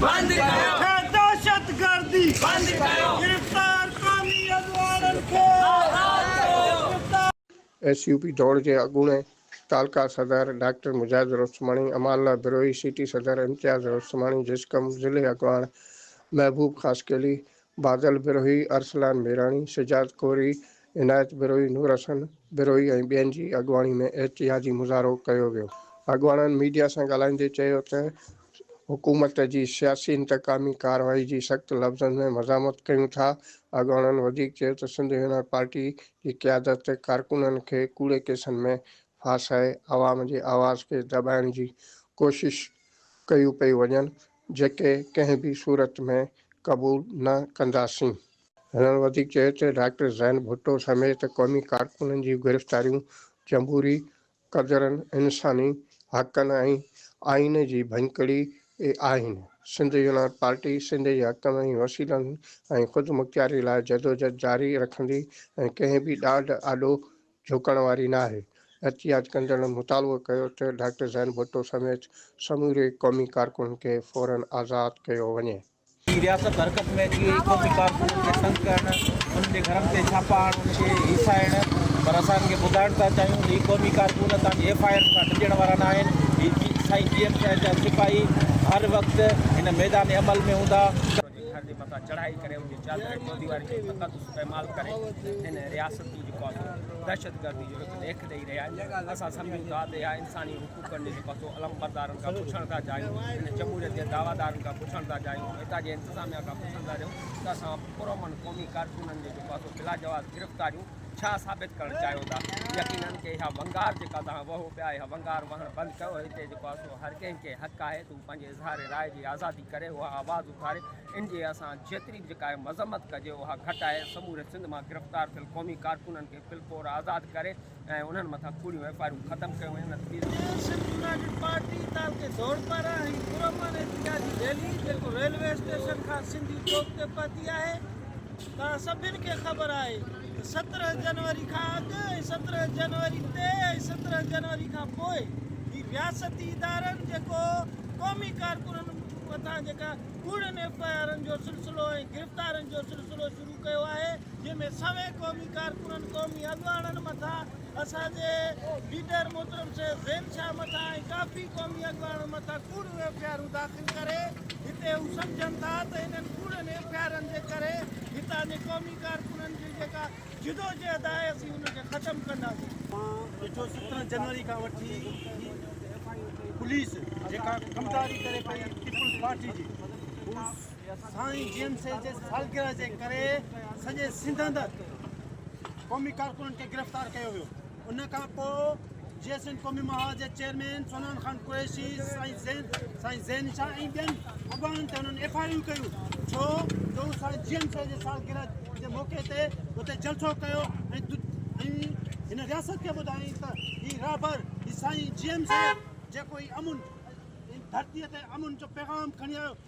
بند ڪيو هي دهشتگردي بند ڪيو گرفتار قومي اڳواڻن کي آزاد ڪيو. ايس يو پي ڊوڙ جي اڳوڻي تعلقه صدر ڊاڪٽر مجاهد رستماڻي، امان الله بروهي، سيٽي صدر امتياز رستماڻي، جسقم ضلعي اڳواڻ محبوب خاصخيلي، بادل بروهي، ارسلان ميراڻي، شجاعت ڪوري، عنايت بروهي، نور حسن بروهي ۽ ٻين جي اڳواڻي ۾ احتجاجي مظاهرو ڪيو ويو. اڳواڻن ميڊيا سان ڳالهائيندي چيو ته حڪومت جي سياسي انتقامي ڪارروائي جي سخت لفظن ۾ مذامت ڪيون ٿا. اڳواڻن وڌيڪ چيو ته سنڌ يونائيٽ پارٽي جي قيادت ڪارڪنن کي ڪوڙي ڪيسن ۾ ڦاسائي عوام جي آواز کي دٻائڻ جي ڪوشش ڪيون پيون وڃن جيڪي ڪنهن به صورت ۾ قبول نه ڪنداسين. هنن وڌيڪ چيو ته ڊاڪٽر زين ڀٽو سميت قومي ڪارڪنن جي گرفتاريون جمهوري قدرن، انساني حقن ۽ آئين جي ڀڃڪڙي آهن، سنڌ يونائيٽ پارٽي سنڌ جي حقن ۽ وسيلن ۽ خودمختياري لاء جدوجھد جاري رکندي ۽ ڪنهن به ڏاڍ آڏو جهڪڻ واري ناهي. احتجاج ڪندڙن مطالبو ڪيو ته ڊاڪٽر زين ڀٽو سميت سموري قومي ڪارڪنن کي فورا آزاد ڪيو وڃي. جي رياست حرڪت ۾ اچي وئي، قومي ڪارڪنن کي تنگ ڪرڻ، انهن جي گهرن تي ڇاپا هڻڻ، انهن کي هيسائڻ، پر اسان انهن کي ٻڌائڻ ٿا چاهيون ته هي قومي ڪارڪن اسان جي ايف آء آرن کان ڊڄڻ وارا ناهن، هي سائين جي ايم شاهه جا سپاهي هر وقت هن ميدان عمل ۾ هوندا. ٿر جي مٿان چڙهائي ڪري ان جي چادر ۽ چوديوارين جو فقط استعمال ڪري هن رياستي جيڪو آهي سو دهشتگردي جو هڪ ليک ڏئي رهيا آهن اسان سمجهون ٿا ته اها انساني حقوقن جي جيڪو آهي سو علمبردارن کان پڇڻ ٿا چاهيون هن جمهوريت جي دعويٰدارن کان پڇڻ ٿا چاهيون هتان جي انتظاميا کان پڇڻ ٿا چاهيون ته اسان پرامن قومي ڪارڪنن جون جيڪو آهي سو بلاجواز گرفتاريون ڇا ثابت ڪرڻ چاهيو ٿا يقينن ڪي اها ونگار جيڪا توهان وهو پيا اها ونگار وهڻ بند ڪيو هتي جيڪو آهي سو هر ڪنهن کي حق آهي ته هو پنهنجي اظهار راء جي آزادي ڪري اها آواز اٿاري ان جي اسان جيتري به جيڪا مذمت ڪجي اها گهٽ آهي سموري سنڌ مان گرفتار ٿيل قومي ڪارڪنن کي فل فور آزاد ڪري ۽ انهن مٿان ڪوڙيون ايف آء آرون ختم ڪيون وڃن اپيل ڪري ٿو. سنڌ يونائيٽيڊ پارٽي تعلقي ڌوڙپارا ۽ پرامن احتجاجي ريلي جيڪو ريلوي اسٽيشن کان سنڌي چوڪ تي پهتي آهي، توهان سڀن کي خبر آهي ته سترهن جنوري کان اڳ ۽ سترهن جنوري تي ۽ سترهن جنوري کان پوء هي رياستي ادارن جيڪو قومي ڪارڪنن مٿان جيڪا ڪوڙين ايف آء آرن جو سلسلو ۽ گرفتارين جو سلسلو شروع ڪيو آهي جنهن ۾ سوين قومي ڪارڪنن قومي اڳواڻن مٿان اسان جي ليڊر محترم شيخ زين شاهه مٿان ۽ ڪافي قومي اڳواڻن مٿان ڪوڙيون ايف آء آرون داخل ڪري هتي هو سمجهن ٿا ته انهن ڪوڙين ايف آء آرن جي ڪري هتان جي قومي ڪارڪنن جي جيڪا جدوجهد آهي اسين ان کي ختم ڪنداسين. مان ڏٺو سترهن جنوري کان وٺي پوليس جيڪا ڪمداري ڪري پئي پيپلز پارٽي جي سائين جي ايم سي جي سالگرهه جي ڪري سڄي سنڌ اندر قومي ڪارڪنن کي گرفتار ڪيو ويو ان کان پوء جي ايس اين قومي مها جي چيئرمين سونان خان قريشي سائين زين سائين زين شاهه ۽ ٻين اڳواڻن تي انهن ايف آء يو ڪيون ڇو جو سائين جي ايم سي جي سالگرهه جي موقعي تي اتي جلسو ڪيو ۽ هن رياست کي ٻڌائين ته هي رهبر هي سائين جي ايم سي جيڪو هي امن ڌرتي تي امن جو پيغام کڻي آيو